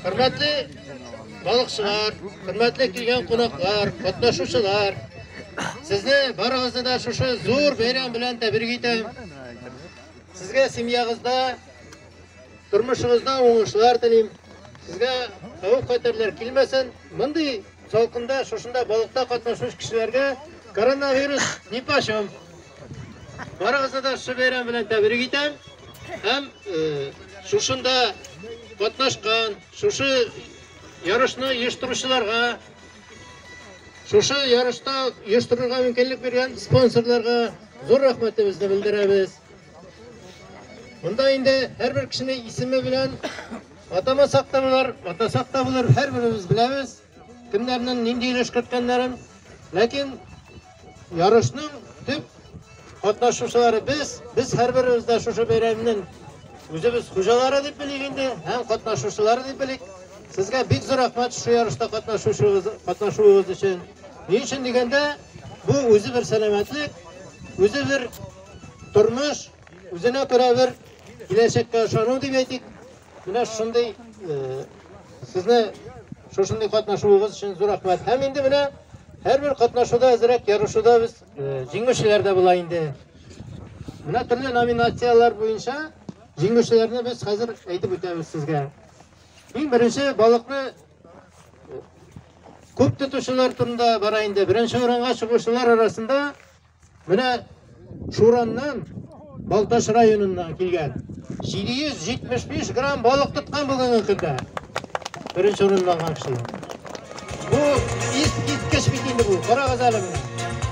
Хөрмәтле балыкчылар, хөрмәтле килгән кунаклар, катнашучылар, сезне барыгызны да шушы зур бәйрәм белән тәбрик итәм. Сезгә семьягызда, тормышыгызда уңышлар телим. Сезгә хәвеф-хәтерләр килмәсен. Мондый салкында шушында балыкта катнашучы кешеләргә коронавирус не почем. Барыгызны да шул бәйрәм белән тәбрик итәм. Һәм шушында катнашкан, шушы ярышны оештыручыларга, шушы ярышта оештырырга мөмкинлек биргән спонсорларга зур рәхмәтебезне белдерәбез. Монда инде һәрбер кешене исеме белән атамасак та булыр, атасак та булыр, һәрберебез беләбез. Кемнәрнең нинди өлеш керткәннәрен, ләкин ярышның төп катнашучылары без, без һәрберебез дә шушы бәйрәмнең үзебез хуҗалары дип белик инде һәм катнашучылары дип белик. Сезгә бик зур рәхмәт шушы ярышта катнашучыгыз, катнашуыгыз өчен. Ни өчен дигәндә, бу үзе бер сәламәтлек, үзе бер тормыш, үзенә күрә бер киләчәккә ышану дип әйтик. Менә шундый сезне шушындый катнашуыгыз өчен зур рәхмәт. Һәм инде менә һәрбер катнашуда әзрәк ярышуда без җиңүчеләр дә була инде. Менә төрле номинацияләр буенча җиңүчеләрне без хәзер әйтеп үтәбез сезгә. Иң беренче балыкны күп тотучылар турында бара инде. Беренче урынга чыгучылар арасында Менә Шураннан, Балтач районыннан килгән 775 грамм балык тоткан бүгенге көндә. Беренче урынны алган кеше. Бу искиткеч бит инде бу. Карагыз әле менә.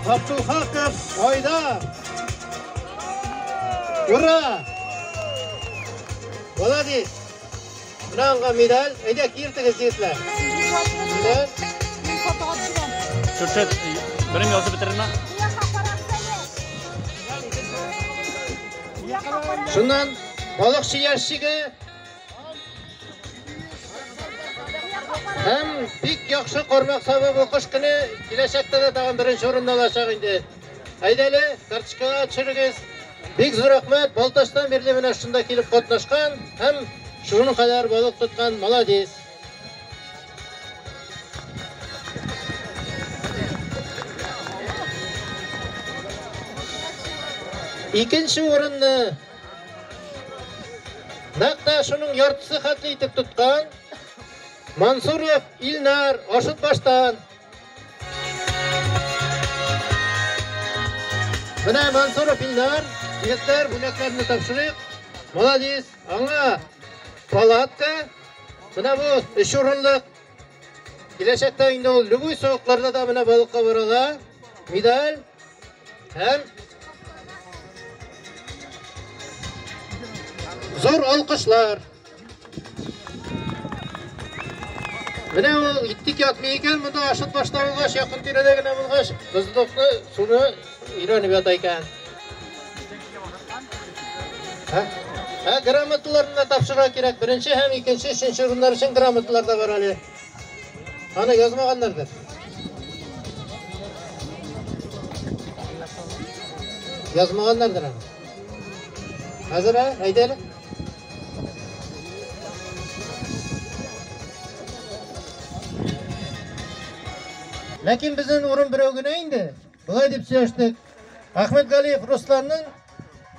Габдулхаков айда. Ура! Молодец! Менә аңга медаль. Әйдә, киертегез, егетләр. Медаль. Шушы берем язып бетерерме? Шуннан балыкчы яшчиге һәм бик яхшы кармак савы бу кыш көне киләчәктә дә тагын беренче урынны алачак инде. Әйдәле, карточкага төшерегез. Бик зур рәхмәт, Балтачтан бирле менә шунда килеп катнашкан һәм шуның кадәр балык тоткан, молодец. Икенче урынны нәкъ тә шуның яртысы хәтле итеп тоткан Мансуров Илнар Ашытбаштан Менә Мансуров Илнар, егетләр, бүләкләрне тапшырыйк. Молодец. Аңа палатка. Менә бу өч урынлык. Киләчәктә инде ул любой суыкларда да менә балыкка бара ала. Медаль һәм зур алкышлар. Менә ул иттик ятмый икән, монда ашыт башта булгач, якын тирәдә генә булгач, бозлыкны суны өйрәнеп ята икән. Ә? Ә грамоталарны да тапшырырга кирәк. Беренче һәм икенче, өченче урыннар өчен грамоталар да бар әле. Аны язмаганнардыр. Язмаганнардыр аны. Хәзер ә, әйдәле. Ләкин безнең урын берәү генә инде. Болай дип сөйләштек. Ахмед Галиев Русланның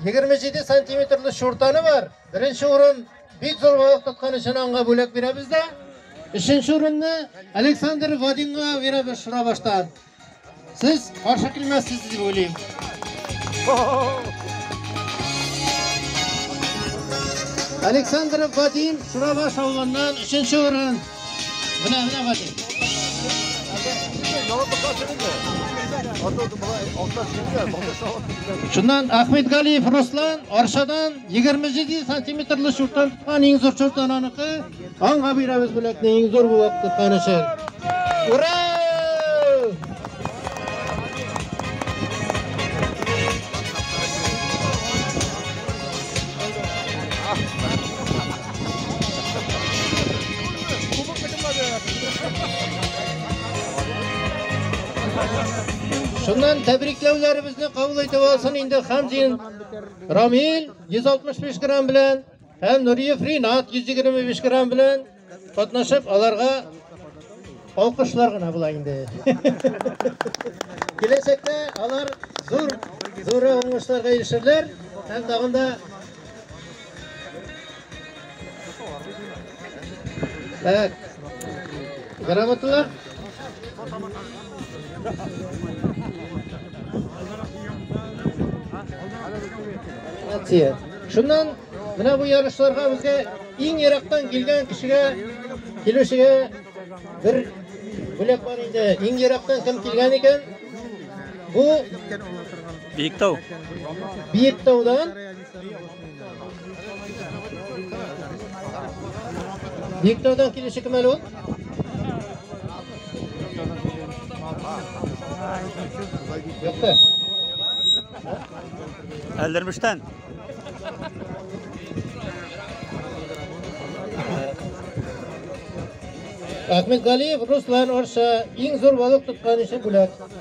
27 сантиметрлы шуртаны бар. Беренче урын бик зур балык тоткан өчен аңга бүләк бирәбез дә. Өченче урынны Александр Вадимга бирәбез Шурабаштан. Сез каршы килмәссез дип уйлыйм. Александров Вадим Шурабаш авылыннан 3 урын. Менә менә Вадим. Шуннан Ахмед Галиев Руслан Аршадан 27 сантиметрлы шурттан тоткан иң зур шурттан аныкы. Аңа бирәбез бүләкне иң зур булып тоткан өчен. Ура! Шуннан тәбрикләүләребезне кабул итеп алсын инде Хамзин Рамил 165 грамм белән Һәм Нуриев Ринат 125 грамм белән катнашып, аларга алкышлар гына була инде. Киләчәктә алар зур зур уңышларга ирешерләр һәм тагын да Так. Грамоталар Акция. Шуннан менә бу ярышларга безгә иң ерактан килгән кешегә килүчегә бер бүләк бар инде. Иң ерактан кем килгән икән? Бу Биектау. Биектаудан Виктордан килеше кем әле ул? Юкты. Әлдермештән. Ахмет Галиев Руслан Орша иң зур балык тоткан өчен бүләк.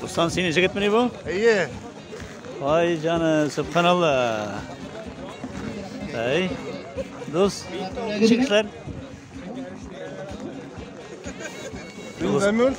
Дустан, сине жигит мени бу? Әйе. Ай җаны, субханалла. Әй. Дус, чикләр. Дус.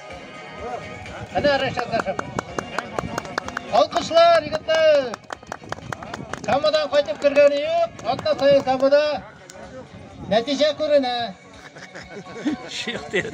Әнә Рәшат Рәшат. Алкышлар, егетләр! Камадан кайтып кергәне юк, атна сайын камада нәтиҗә күренә. Шихтер.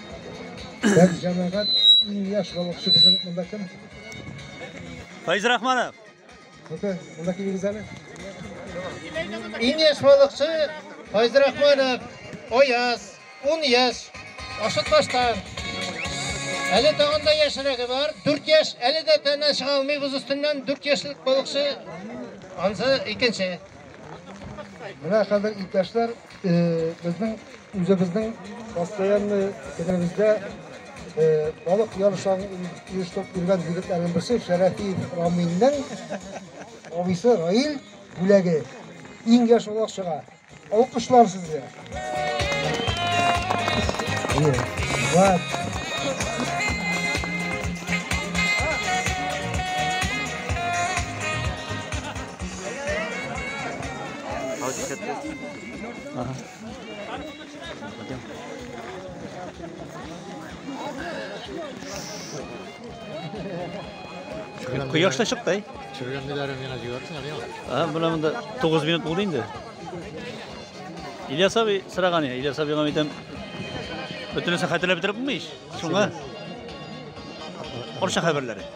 Бер җәмәгать иң яшь балыкчы безнең монда кем? Файз Рахманов. Күпе, монда кем егез әле? Иң яшь балыкчы Файз Рахманов, Ояз, 10 яшь, Ашытбаштан. Әле тагын да яшьрәге бар, 4 яшь, әле дә тәнә чыга алмый боз өстеннән 4 яшьлек балыкчы, ансы икенче. Менә хәзер иптәшләр Безнең үзебезнең постоянный көнебездә балык ярышларын оештырып йөргән егетләрнең берсе Шәрәфиев Рамилнең абыйсы Раил бүләге. Иң яшь улак чыга. Алкышлар сезгә. Вау. Кояшта чыкты. Чүргәнне дә рәмгән җибәрсен, әле. А, менә монда 9 минут булды инде. Ильяс абый сыраган я, Ильяс абыйга әйтәм. Бөтенесе хәтерләп бетереп булмый ич. Шуңа. Орча хәбәрләре.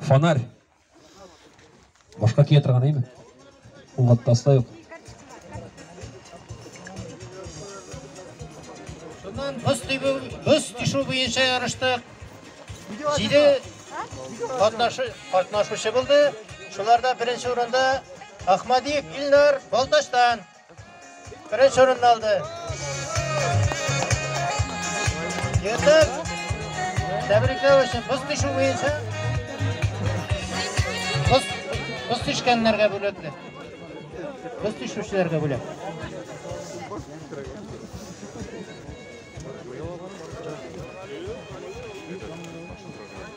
Фонарь. Башка кия торган әйме? Уңатта аста юк. Шуннан боз тибү, боз тишү буенча ярыштык. Җиде катнашы, катнашучы булды. Шуларда беренче урында Ахмадиев Илнар Балтачтан. Беренче урынны алды. Ертык. Тәбрикләү өчен боз төшү буенча. Боз, боз төшкәннәргә бүләкле. Боз төшүчеләргә бүләк.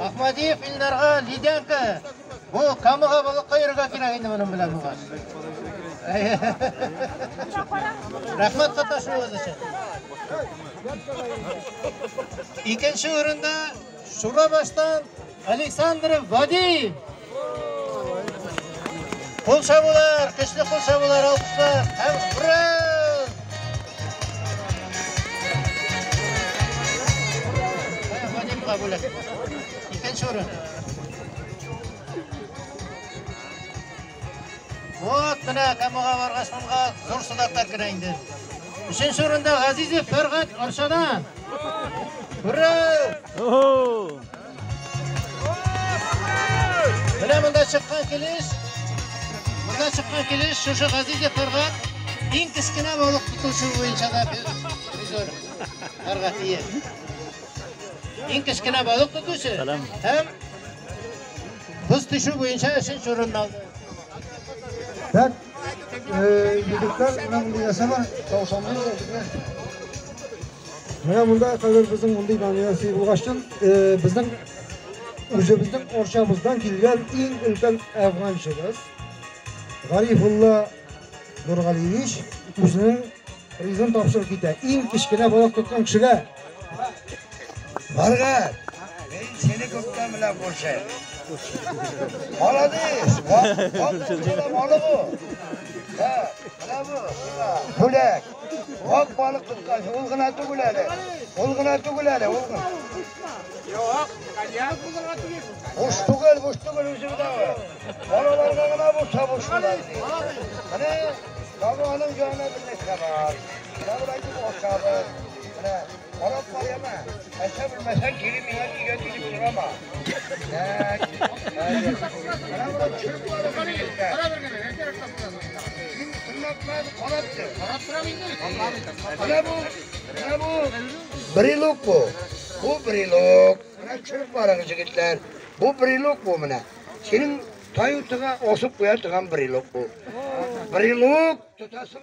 Ахмадиев Илдарга лидянка. Бу камыга балыкка йөрергә кирәк инде моның белән буган. Рәхмәт катнашуыгыз өчен. Икенче урында Шурабаштан Александр Вадиев. Кул чабулар, көчле кул чабулар, алкышлар. Һәм ура! Вадимга бүләк. Икенче урын. Вот менә Камага баргач монга зур сыдаклар керә инде. Өченче урында Газизов Фәргать Арчадан. Менә монда чыккан килеш, монда чыккан килеш шушы газиз якларга иң кечкенә балык тотучы буенча да без призер карга тиеш. Иң кечкенә балык тотучы һәм боз төшү буенча өченче урынны алды. Егетләр, менә мондый нәрсә бар, таушамлы Менә монда кадәр безнең мондый номинация булгач чын, безнең үзебезнең орчабыздан килгән иң өлкән әфганчыбыз Гарифулла Нургалиевич үзенең призын тапшырып китә. Иң кечкенә балык тоткан кешегә Маргат, мин сине көткән белән күрше. Молодец! Капсулам алып бу. Ә, менә бу, сиңа бүләк. Ак балык тоткан, ул гына түгел әле. Ул гына түгел әле, ул гына. Юк, коньяк булырга тиеш. Буш түгел, буш түгел үзе дә. Балаларга гына булса буш була. Менә, табаның янына бер нәрсә бар. Менә бу Менә карап кар яма. Әсә белмәсәң, кире миңа кигә килеп сорама. Брелок бу. Бу брелок. Менә чүп барыгыз, егетләр. Бу брелок бу менә. Синең таю тыга, осып куя тыган брелок бу. Брелок тотасың.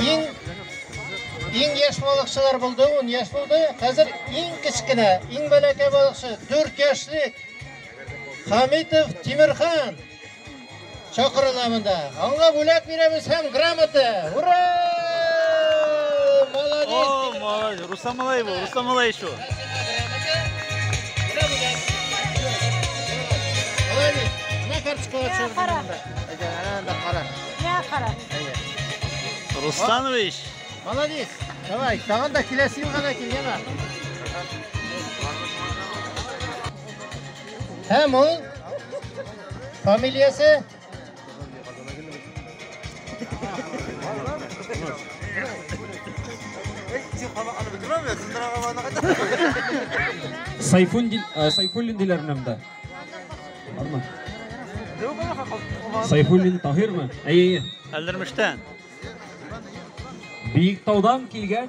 Иң иң яшь балыкчылар булды, 10 яшь булды. Хәзер иң кечкенә, иң бәләкәй балыкчы 4 яшьлек Хамитов Тимирхан чакырыла монда. Аңа бүләк бирәбез һәм грамота. Ура! Молодец! О, молодец. Руслан Малаев, Руслан Малаев. Русланович! Молодец! Давай, тагын да киләсе елга да кил, яна. Һәм ул фамилиясе Сайфуллин, э, Сайфуллин диләр менә монда. Бармы? Сайфуллин Таһирмы? Әйе. Әлдермештән. Биектаудан килгән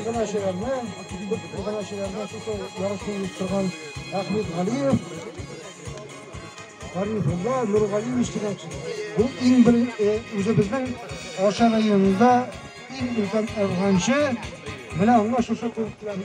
Иганәчеләрне, күп иганәчеләрне шушы ярышны оештырган Әхмәт Галиев, Гарифулла Нургалиевич дигән бу иң бер үзебезнең Аша районында иң өлкән әфганчы, менә аңа шушы күрсәтелгән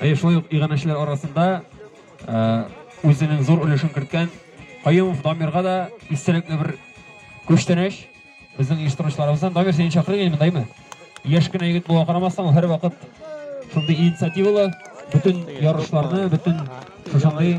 Әйе, шулай ук иганәчеләр арасында үзенең зур өлешен керткән Каюмов Дамирга да истәлекле бер күчтәнәч безнең оештыручыларыбыздан. Дамир, сине чакырыйк инде, мындаймы? Яшь кенә егет булуга карамастан, ул һәрвакыт шундый инициативалы, бөтен ярышларны, бөтен шушындый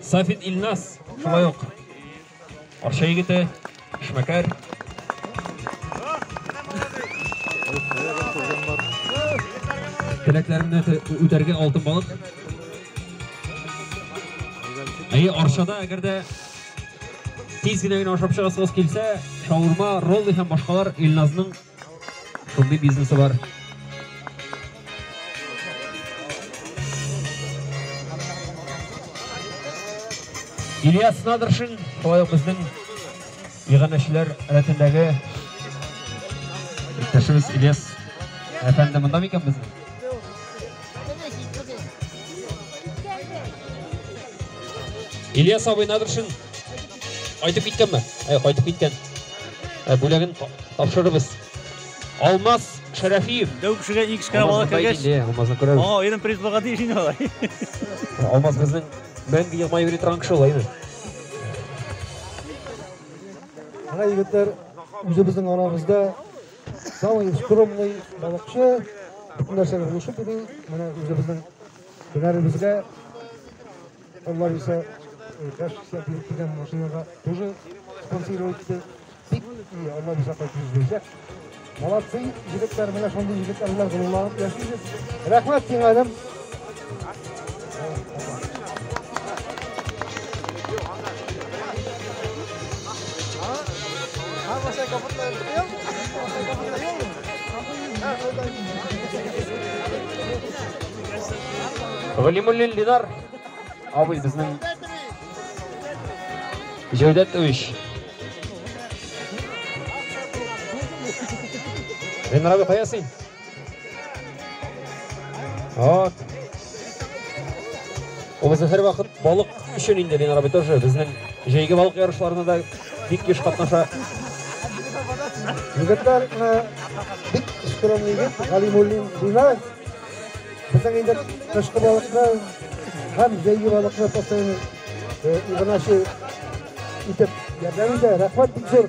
Сафит Илназ, шулай ук Арча егете, эшмәкәр. Теләкләрне үтәргә алтын балык. Әйе, Арчада әгәр дә тиз генә генә ашап чыгасыгыз килсә, шаурма, роллы һәм башкалар Илназның Шундый бизнесы бар. Ильяс Надыршин, шулай ук безнең иганәчеләр рәтендәге иптәшебез Ильяс әфәнде монда микән безнең? Ильяс абый Надыршин кайтып киткәнме? Ә, кайтып киткән. Ә, бүләген тапшырырбыз. Алмаз Шәрәфиев. Дәү кешегә иң кечкенә бала кергәч, Алмазны күрәбез. Ага, аерым приз булырга тиеш инде алай. Алмаз безнең мәңге елмаеп йөри торган кеше улай инде. Ана егетләр үзебезнең арабызда самый скромный балыкчы, бөтен нәрсәгә булышып йөри. Менә үзебезнең Һөнәребезгә алар исә яшь сәбилек дигән машинага тоже спонсировать итте. Бик и алар исә кайтып бирсәк. Молодцы, егетләр, менә шундый егетләр белән гырланып яшибез. Рәхмәт сиңа, Әлем. Галимуллин Линар абый безнең Җәүдәт Үч. Линар абый кая син? Вот. Ул безне һәрвакыт балык Өчен инде Ленар абый тоже безнең җәйге балык ярышларына да бик еш катнаша. Егетләр бик скромный егет, Галимуллин Динар. Безнең инде кышкы балыкны һәм җәйге балыкны постоянно Игнаши итеп ярдәм итә. Рәхмәт бик зур.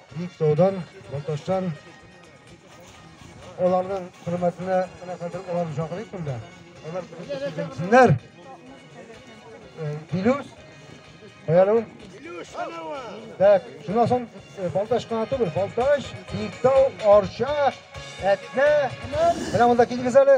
Биектаудан, Балтачтан аларның хөрмәтенә менә хәзер аларны чакырыйк монда. Алар килсеннәр. Билюс, Баялыу. Так, шунан соң Балтач кына түгел, Балтач, Биектау, Арча, Әтнә. Менә монда килегез әле.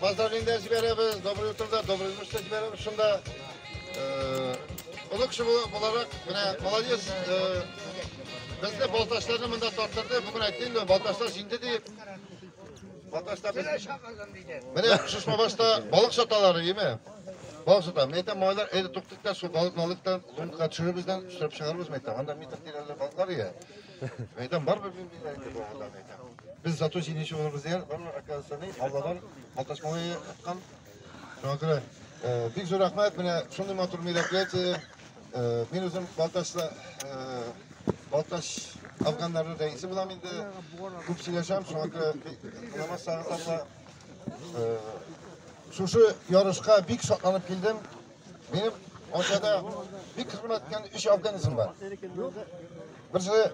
Поздравление дә җибәрәбез, доброе утро да, доброе ночь та җибәрәбез шунда. Олы кеше буларак, менә молодец, безне балташларны монда тарттырды, бүген әйтте инде, балташлар җиңде дип. Балташта без... Менә шушма башта балык саталар, име? Балык сата. Мен әйтәм, малайлар, әйдә туктык та, шул балыкны алыйк та, лунка төшеребез дә, төшереп чыгарыбыз, мен әйтәм. Анда митр тирәле балыклар ия. Әйтәм, барыбер мин мин әйтә бу авылдан әйтәм. Без зато җиңүче булырбыз дигән, барыбер оказывается, ни, Алладан маташмалый аткан. Шуңа күрә э, бик зур рәхмәт, менә шундый матур мероприятие. Э, Мин үзем Балтачта э, Балтач афганнарының рәисе булам инде. Күп сөйләшәм, шуңа күрә бик намаз сагындырма. Э, Шушы ярышка бик шатланып килдем. Минем Ошада бик хезмәт иткән өч организм бар. Берсе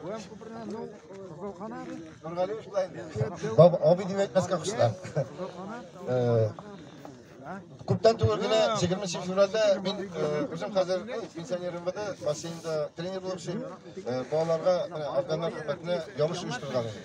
Нургалиевич белән Баб Аби дип әйтмәскә кушты. Күптән түгел генә 20 февральдә мин үзем хәзер пенсионер МВД бассейнда тренер булып эшлим. Балаларга органнар хезмәтенә ярыш оештырган идем.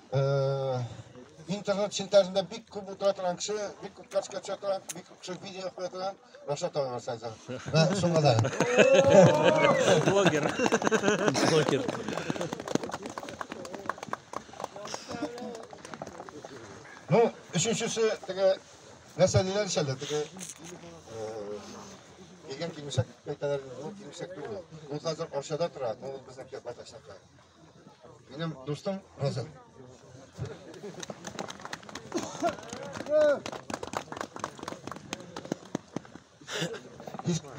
интернет челтәрендә бик күп утыра торган кеше, бик күп качка төшә торган, бик күп кеше видео куя торган Рашат ага Рашатов. Вә шуңа да. Блогер. Блогер. Ну, өченчесе теге нәрсә диләр ич әле, теге килгән килмешәк кайталар, ул килмешәк түгел. Ул хәзер Арчада тора, ул безнең Кирпаташта тора. Минем дустым Роза.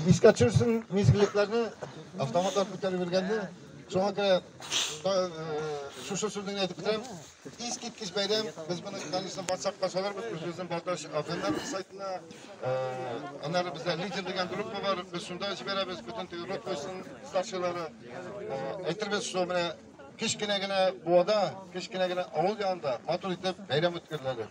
Искә төшерсен мизгеллекләрне автоматлар күтәреп йөргәндә. Шуңа күрә шушы сүзне әйтеп бетерәм. Искиткеч бәйрәм. Без моны, конечно, WhatsApp кашаларбыз, без үзен Балтач Афганнар сайтына. Аннары бездә лидер дигән группа бар. Без шунда җибәрәбез бөтен теге рот куйсын старшилары. Әйтербез, что менә кечкенә генә буада, кечкенә генә авыл янында матур итеп бәйрәм үткәреләдер.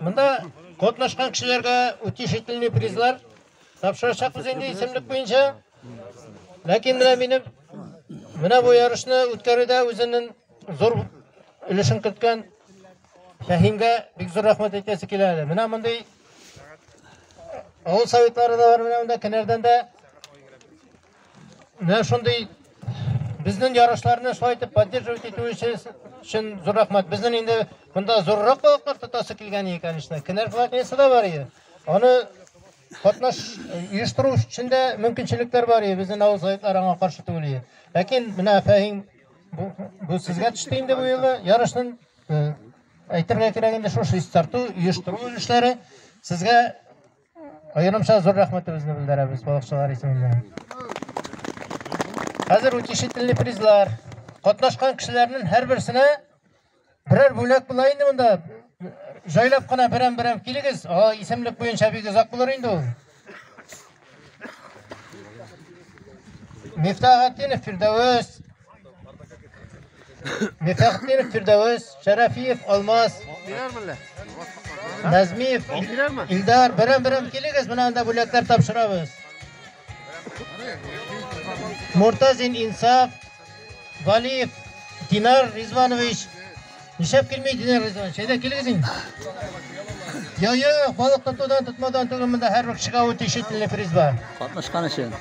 Монда катнашкан кешеләргә утешительный призлар тапшырачакбыз инде исемлек буенча. Ләкин менә минем менә бу ярышны үткәрүдә үзенең зур өлешен керткән Фәһимгә бик зур рәхмәт әйтәсе килә әле. Менә мондый авыл советлары да бар, менә монда Кенәрдән дә Менә шундый безнең ярышларны шулай итеп поддерживать итү өчен зур рәхмәт. Безнең инде монда зуррак балыклар тотасы килгән ие, конечно. Кенәр платнисы да бар ие. Аны катнаш оештыру өчен дә мөмкинчелекләр бар ие. Безнең авыл заетлары аңа каршы түгел ие. Ләкин менә Фәһим бу, бу сезгә төште инде бу елы ярышның әйтергә кирәк инде шушы чистарту, оештыру эшләре сезгә Аерымча зур рәхмәтебезне белдерәбез балыкчылар исеменнән. Хәзер утешительный призлар. Катнашкан кешеләрнең һәрберсенә берәр бүләк була инде монда. Җайлап кына берәм-берәм килегез. О, исемлек буенча бик озак булыр инде ул. Мифтахатдинов Фирдәвес, Мифәхтиров Фирдәвес, Шәрәфиев Алмаз, Назмиев Илдар, берәм-берәм килегез, менә анда бүләкләр тапшырабыз. Муртазин Инсаф, Валиев Динар Ризванович, Нишләп килми Динар Ризович? Әйдә килегез инде. Я, юк, балык тотудан, тотмаудан түгел, монда һәрбер кешегә үтә ишетле приз бар. Катнашкан өчен.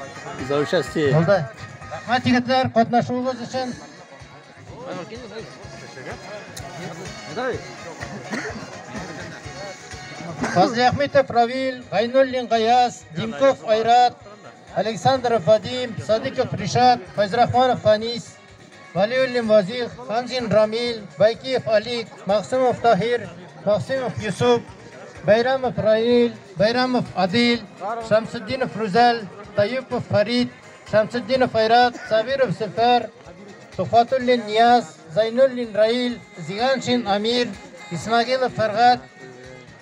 За участие. Булды. Рәхмәт егетләр, катнашуыгыз өчен. Фазли Ахметов Равил, Гайнуллин Гаяз, Димков Айрат, Александров Вадим, Садиков Ришат, Файзрахманов Фанис. Вәлиуллин Вазих, Ханзин Рамил, Байкиев Алик, Максымов Таһир, Максымов Йосып, Бәйрәмов Раил, Бәйрәмов Адил, Шамсетдинов Рүзәл, Таюпов Фарид, Шамсетдинов Айрат, Сабиров Сефәр, Тухватуллин Нияз, Зайнуллин Раил, Зиганшин Амир, Исмагилов Фәргат,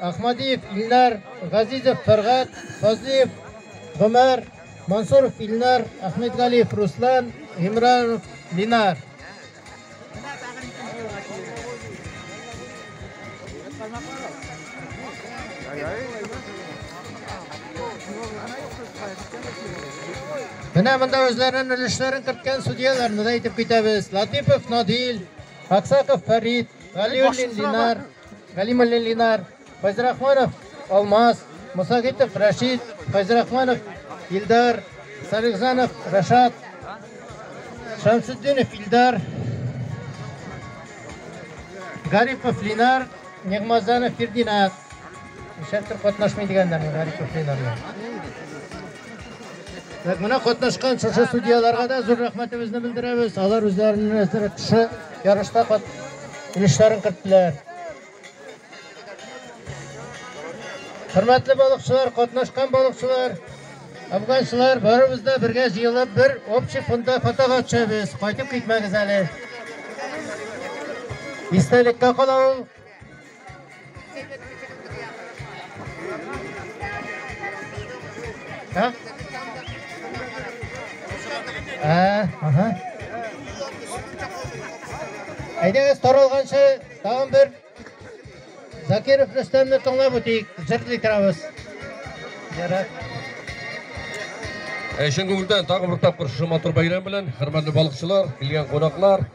Ахмадиев Илнар, Газизов Фәргать, Фазлиев Гомәр, Мансуров Илнар, Әхмәтгалиев Руслан, Гимранов Линар. Менә монда үзләренең өлешләрен керткән судьяларны да әйтеп китәбез. Латипов Надил, Аксаков Фәрит, Галиуллин Линар, Галимуллин Линар, Файзрахманов Алмаз, Мусагитов Рәшит, Файзрахманов Илдар, Салихзанов Рашат, Шамсутдинов Илдар, Гарипов Линар, Нигмазанов Фердинат. Шәптер катнашмый дигәннәр Гарипов Линарны. Так, менә катнашкан шушы судьяларга да зур рәхмәтебезне белдерәбез. Алар үзләренең әзрәк кеше ярышта кат өлешләрен керттеләр. Хөрмәтле балыкчылар, катнашкан балыкчылар, афганчылар, барыбыз да бергә җыелып бер общий фонда фотога төшәбез. Кайтып китмәгез әле. Истәлеккә кала ул. Hah? Ә, аха. Әйдәгез таралганчы тагын бер Закиров Рөстәмне тыңлап үтик. Җырлый торабыз. Ярар. Ә чын күңелдән тагын бер тапкыр шушы матур бәйрәм белән хөрмәтле балыкчылар, килгән кунаклар,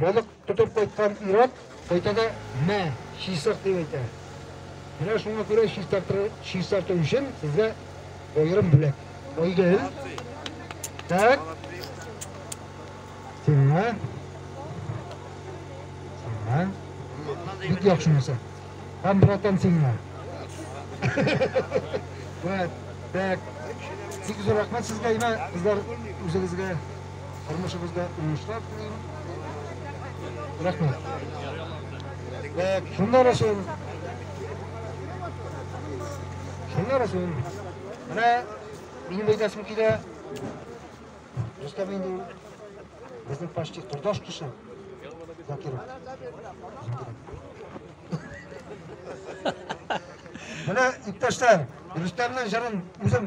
Балык тотып кайткан ир-ат кайта да, Мә, чистарт, дип әйтә. Менә шуңа күрә чистарту өчен сезгә аерым бүләк. Айгөл. Так. Сиңа. Сиңа. Бик яхшы нәрсә. Һәм братан сиңа. Вәт. Так. Бик зур рәхмәт сезгә, имә, кызлар, үзегезгә. Тормышыбызда уңышлар телим. Рәхмәт. Шуннар өчен Шуннар өчен менә минем әйтәсем килә. Рөстәм инде безнең почти турдаш кеше. Закиров. Менә иптәшләр, Рөстәмнең җырын үзем